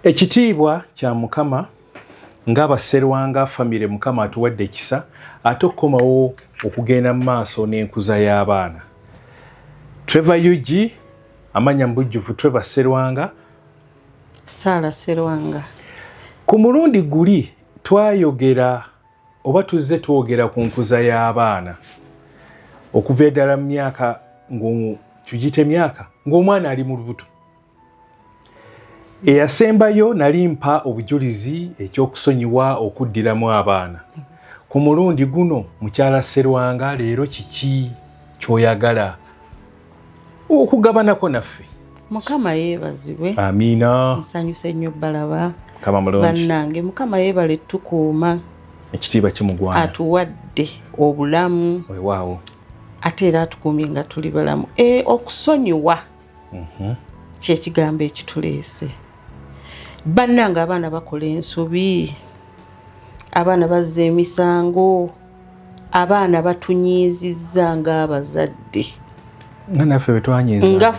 Ekitiibwa kya Mukama nga Basserwanga famire Mukama atuwadde ekisa ate okukomawo okugenda mu maaso n'enkuza y'abaana. Trevor Ug amanya mu bujjuvu Trevor Sserwanga. Saala Sserwanga. Ku mulundi guli twayogera oba tuzze twogera ku nkuza y'abaana okuva eddala mu myaka ng'omu tugite myaka ng'omwana ali mu lubuto eyasembayo nali mpa obujulizi ekyokusonyiwa okuddiramu abaana ku mulundi guno mukyala serwanga leero kiki kyoyagala okugabanako naffe mukama yebazibwe amiina nsanyuse nnyo balaba bannange mukama yebale tukuuma ekitiibwa kimugwana atuwadde obulamu wewaawo ate era atukuumye nga tuli balamu e, okusonyiwa mhm. kyekigambo ekituleese bannanga abaana bakola ensobi abaana bazza emisango abaana batunyiizizza ng'abazadde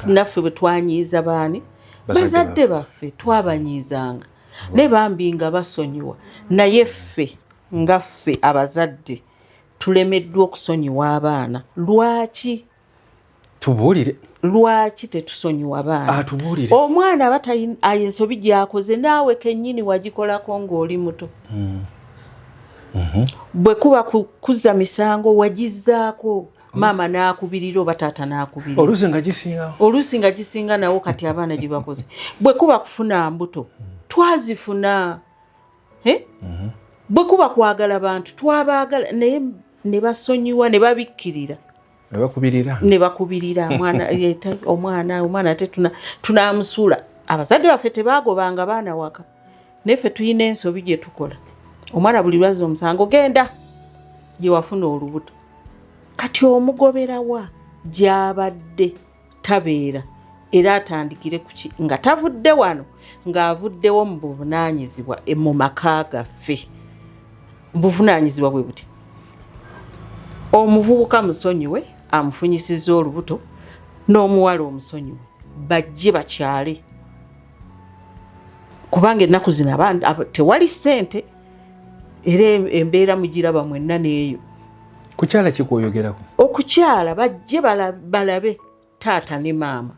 naffe bwe twanyiiza baani bazadde baffe twabanyiizanga naye bambi nga basonyiwa naye ffe nga ffe abazadde tulemeddwa okusonyiwa abaana lwaki tubuulire lwaki tetusonyiwa baana ah, tubuulire omwana aba ensobi gyakoze naawe kennyini wagikolako ng'oli muto hmm. mhm. bwe kuba kuzza misango wagizzaako maama n'akubirira oba taata n'akubirira oluusi nga gisinga oluusi nga gisinga nawo kati abaana gye bakoze bwe kuba kufuna mbuto hmm. twazifuna eh? mhm. bwe kuba kwagala bantu twabaagala naye ne basonyiwa ne babikkirira nebakubirira nebakubirira mwana omwana omwana ate tunamusula abazadde baffe tebagobanga baana waka naye ffe tulina ensobi gyetukola omwana buli lwazza omusango genda gyewafuna olubuto kati omugoberawa gyabadde tabeera era atandikire kuki nga tavudde wano ng'avuddewo mu buvunaanyizibwa e, mu maka gaffe buvunaanyizibwa bwe buti omuvubuka musonyiwe amufunyisizza olubuto n'omuwala omusonyiwe bajje bakyale kubanga ennaku zino tewali ssente era embeera mugiraba mwenna neeyo kukyala kikwoyogerako okukyala bajje balabe taata ne maama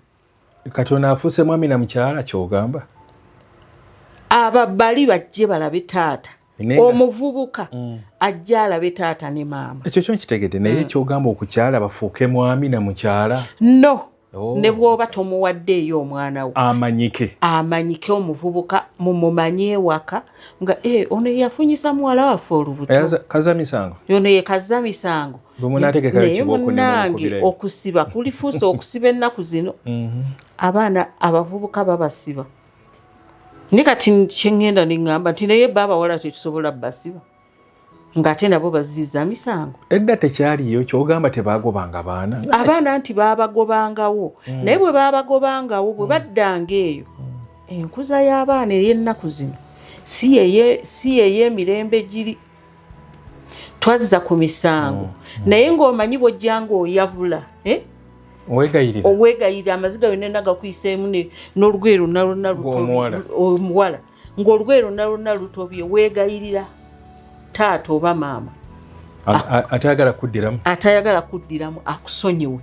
kati ono afuuse mwami na mukyala kyogamba ababali bajje balabe taata omuvubuka mm. ajja alabe taata ne maama ekyo kyo nkitegede naye mm. ekyogamba okukyala bafuuke mwami na mukyala no Oh. ne bwoba tomuwaddeeyo omwana wo amanyike amanyike omuvubuka mumumanye ewaka nga eh, ono yeyafunyisa muwala waffe olubutokazamisango eh, ono yekazamisango naye munange okusiba kulifuusa okusiba ennaku zino mhm. abaana abavubuka babasiba ni kati kyengenda neŋamba nti naye baabawala tetusobola basiba ng'ate nabo baziza misango edda tekyaliyo kyogamba tebagobanga baana abaana nti babagobangawo mm. naye bwe babagobangawo bwe mm. baddanga eyo mm. enkuza y'abaana ey'ennaku zino si yeyemirembe giri twazza ku misango mm. mm. naye ng'omanyi bwojjanga oyavula eh? owegayirira amaziga yonna nagakuyiseemu n'olugoye lwonna lwonna omuwala ng'olugoye lwonna lwonna lutobye weegayirira taata oba maama atayagala kuddiramu atayagala kuddiramu akusonyiwe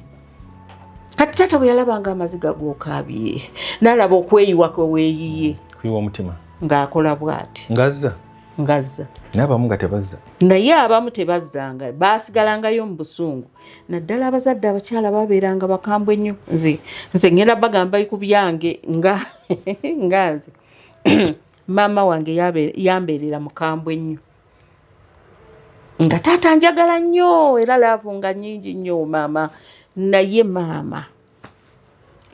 kati taata bwe yalabanga amaziga g'okaabye n'alaba okweyiwa kwe weeyiye kuyiwa omutima ng'akola bw'ati ngazza ngazza naye abamu nga tebazza naye abamu tebazzanga baasigalangayo mu busungu naddala abazadde abakyala babeeranga bakambwe nnyo nze nze ngenda bagamba ku byange nga nga nze maama wange yambeerera mukambwe nnyo nga taata njagala nnyo era laavu nga nyingi nnyo maama naye maama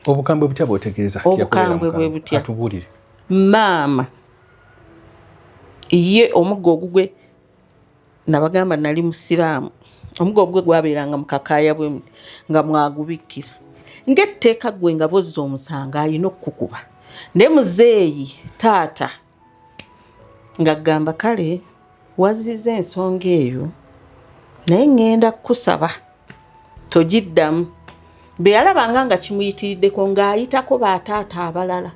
obukambwe butya bwotegeeza obukambwe bwe butya maama ye omugga ogugwe nabagamba nali musiraamu omugo ogwe gwabeeranga mukakaaya bwe nga mwagubikkira ngaetteeka gwe nga bozza omusango alina okukukuba naye muzeeyi taata nga gamba kale waziza ensonga eyo naye ŋŋenda kukusaba togiddamu bwe yalabanga nga kimuyitiriddeko ng'ayitako bataata abalala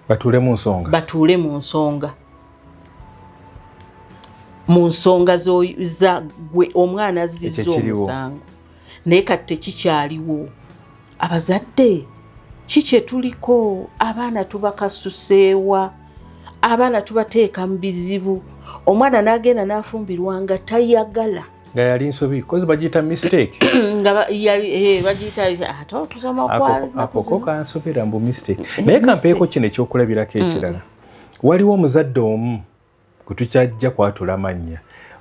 batuule mu nsonga batuule mu nsonga mu nsonga za gwe omwana azzizza omusango naye kati tekikyaliwo abazadde ki kye tuliko abaana tubakasuseewa abaana tubateeka mu bizibu omwana n'agenda n'afumbirwa nga tayagala nga yali nsobi kozi bagiyita mistake eh, bagiyitaakoko kansubira mbu mistake eh, naye kampeeko kino ekyokulabirako mm. ekirala waliwo omuzadde omu kutukyajja kwatula mannya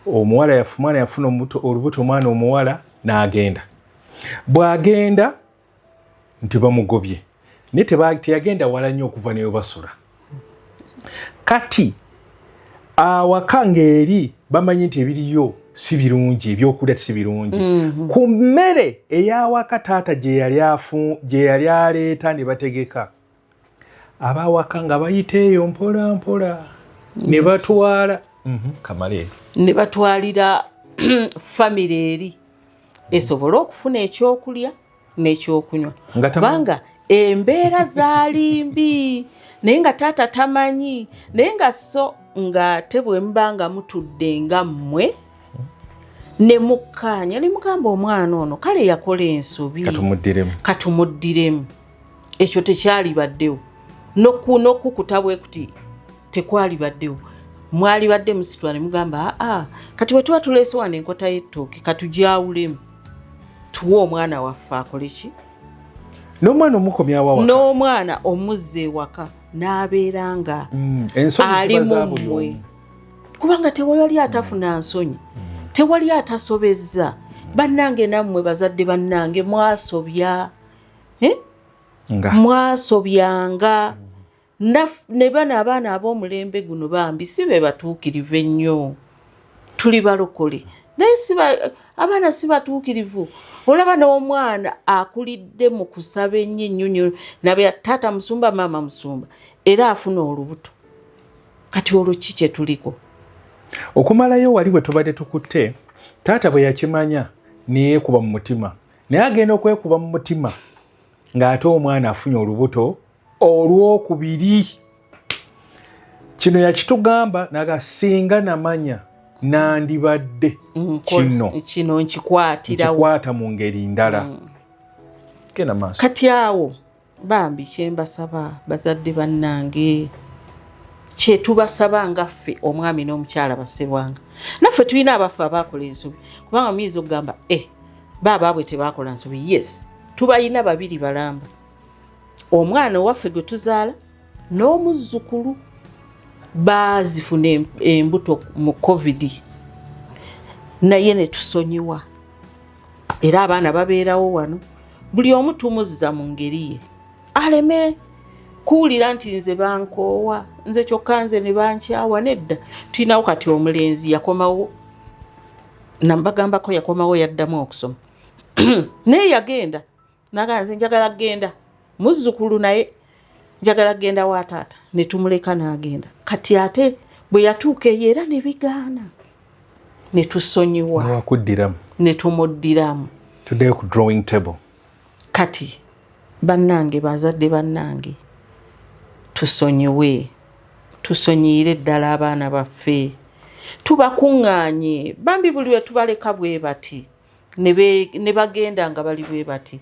omuwala yafumwana yafuna olubuto omwana omuwala n'agenda bw'agenda nti bamugobye naye teyagenda wala nnyo okuva newe basula kati awaka ng'eri bamanyi nti ebiriyo si birungi ebyokulya si birungi mhm. ku mmere eyawaka taata gye yali aleeta ne bategeka abawaka nga bayita eyo mpola mpola ne batwala mhm, kamale ne batwalira famire eri esobole okufuna ekyokulya n'ekyokunywa kubanga embeera zaali mbi naye nga taata tamanyi naye nga so nga te bwemuba nga mutudde nga mmwe ne mukkaanya ne mugamba omwana ono kale yakola ensobi katumuddiremu ekyo tekyalibaddewo nokukuta bwe kuti tekwalibaddewo mwalibadde musitula ne mugamba aa kati bwe tuba tuleese wano enkota y'ettooke katugyawulemu tuwe omwana waffe akole ki n'omwana omukomyawa n'omwana omuzza ewaka n'abeera nga mm, ali mumwe kubanga tewali ali atafuna mm. nsonyi mm. tewali atasobezza bannange nammwe bazadde bannange mwasobya eh? mwasobyanga ne bano abaana ab'omulembe guno bambi si be batuukirivu ennyo tuli balokole naye abaana si batuukirivu olaba n'omwana akulidde mu kusaba ennyo ennyonyo nabe taata musumba maama musumba era afuna olubuto kati olwo ki kye tuliko okumalayo wali bwe tubadde tukutte taata bwe yakimanya neyeekuba mu mutima naye agenda okwekuba mu mutima ng'ate omwana afunye olubuto olwokubiri kino yakitugamba naga singa namanya nandibadde kino kino nkikwatirawo nkikwata mu ngeri ndala mm. kati awo bambi kyembasaba bazadde bannange kyetubasaba nga ffe omwami n'omukyala basebwanga naffe tulina abaffe abaakola ensobi kubanga muyinza okugamba e eh, baabaabwe tebaakola nsobi yes tubalina babiri balamba omwana owaffe gwe tuzaala n'omuzzukulu baazifuna embuto mu covid naye ne tusonyiwa era abaana babeerawo wano buli omu tumuzza mu ngeri ye aleme kuwulira nti nze bankoowa nze kyokka nze ne bankyawa nedda tulinawo kati omulenzi yakomawo nambagambako yakomawo yaddamu okusoma naye yagenda naga nze njagala kugenda muzzukulu naye njagala kugenda wa taata ne tumuleka n'agenda kati ate bwe yatuuka eyo era ne bigaana ne tusonyiwa wakuddiramu ne tumuddiramu tuddeyo ku drawing table kati bannange bazadde bannange tusonyiwe tusonyiyire ddala abaana baffe tubakuŋŋaanye bambi buli lwe tubaleka bwe bati ne bagenda nga bali bwe bati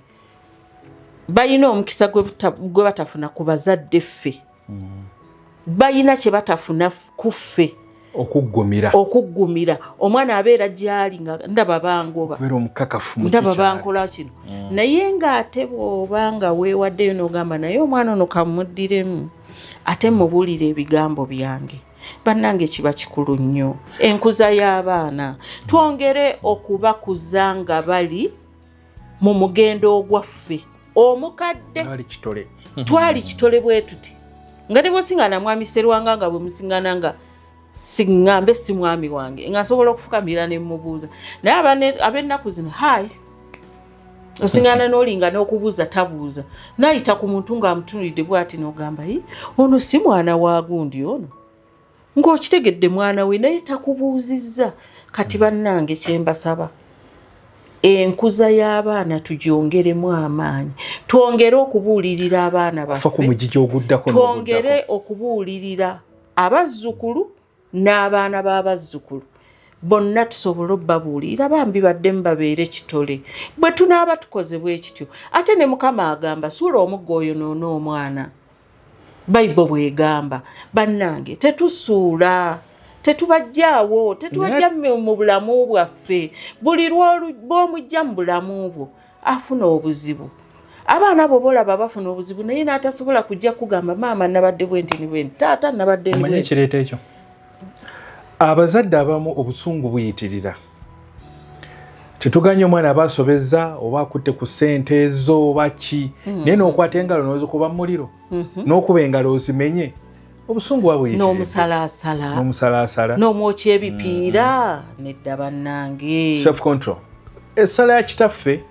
balina omukisa gwe batafuna ku bazadde ffe mm. balina kye batafuna ku ffe okuggumira okuggumira omwana abeera gyali nga ndaba bangoba ndaba bankola kino mm. naye ng'ate bw'oba nga weewaddeyo n'ogamba naye omwana ono kamuddiremu ate mubulire ebigambo byange bannange kiba kikulu nnyo enkuza y'abaana twongere okubakuza nga bali mu mugendo ogwaffe omukadde twali kitole bwe tuti nga ne bwesinga namwami serwanga nga bwe musingana nga siŋŋambe si mwami wange nga nsobola okufukamira ne mmubuuza naye ab'ennaku zino hayi osingana nolinga nokubuuza tabuuza nayita ku muntu ngaamutunulidde bwati nogamba i ono si mwana wa gundi ono ngaokitegedde mwana we naye takubuuzizza kati bannange kyembasaba enkuza y'abaana tugyongeremu amaanyi twongere okubuulirira abaana baffetwongere okubuulirira abazzukulu n'abaana b'abazzukulu bonna tusobole obbabuulira bambi baddemu babeere kitole bwe tunaaba tukoze bwe kityo ate ne mukama agamba suula omugga oyo noona omwana bayibo bwegamba bannange tetusuula tetubajjaawo tetubajja mu bulamu bwaffe buli lwomujja mu bulamu bwo afuna obuzibu abaana abo bolaba bafuna obuzibu naye n'atasobola kujja kugamba maama nabadde bwenti ni bwenti taata nabadde manyi ekireeta ekyo abazadde abamu obusungu buyitirira tetuganye omwana aba asobezza oba akutte ku ssente ezo oba ki mm. naye n'okwata engalo nozikuba mu muliro mm-hmm. n'okuba engalo ozimenye obusungu wabwnomusalaasala nomusalaasala nomwokya ebipiira mm-hmm. nedda bannange self control essala ya kitaffe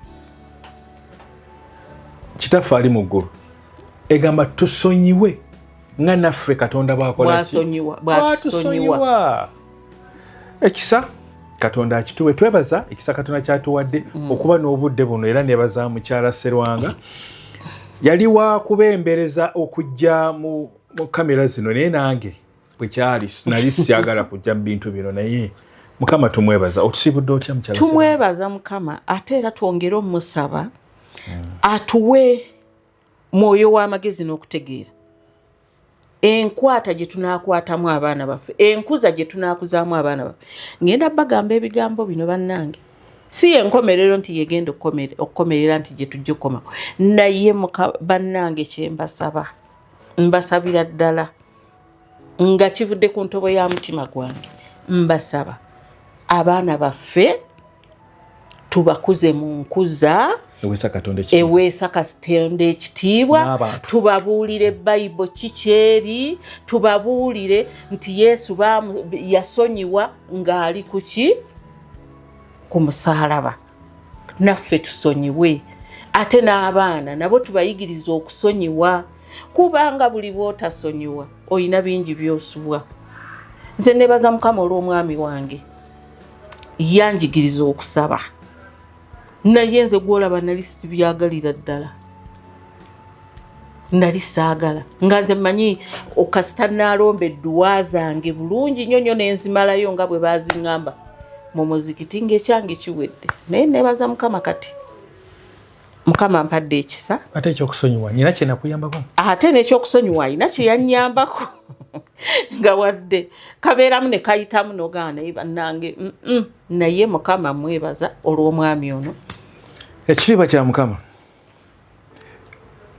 kitaffe ali mu ggulu egamba tusonyiwe nga naffe katonda bwakola bwatusonyiwa ekisa katonda akituwe twebaza ekisa katonda kyatuwadde mm. okuba n'obudde buno era nebaza mukyala serwanga yali wakubembereza okujja mu kamera zino naye nange bwekyali nali syagala kujja mu bintu bino naye mukama tumwebaza otusibudde otya mukyala tumwebaza mukama ate era twongere omusaba mm. atuwe mwoyo w'amagezi n'okutegeera enkwata gye tunaakwatamu abaana baffe enkuza gye tunaakuzaamu abaana baffe ngenda bagamba ebigambo bino bannange si yenkomerero nti yegenda okukomerera nti gye tujja okukomako naye bannange kyembasaba mbasabira ddala nga kivudde ku ntobo ya mutima gwange mbasaba abaana baffe tubakuze mu nkuza eweesa katonda ekitiibwa tubabuulire bayibo kikyeri tubabuulire nti yesu yasonyiwa ng'ali kuki ku musaalaba naffe tusonyiwe ate n'abaana nabo tubayigiriza okusonyiwa kubanga buli bwotasonyiwa olina bingi byosubwa nze nebaza mukama olw'omwami wange yanjigiriza okusaba naye nze gwolaba nali sibyagalira ddala nali saagala nga nze mmanyi okasita naalomba edduwa zange bulungi nnyo nnyo nenzimalayo nga bwe baazingamba mu muzikiti ngaekyange kiwedde naye nebaza mukama kati mukama ampadde ekisa ate ekyokusonyiwa nina kyenakuyambako ate nekyokusonyiwa alina kyeyanyambako nga wadde kabeeramu ne kayitamu nogaa naye bannange naye mukama mwebaza olw'omwami ono ekitiibwa kya mukama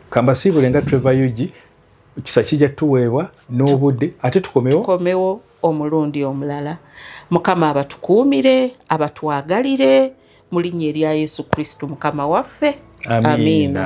kambasiibule nga treva ug kisa kijja tuweebwa n'obudde ate tukomewo tukomewo omulundi omulala mukama abatukuumire abatwagalire mu linnya erya yesu kristo mukama waffe amiina, amiina.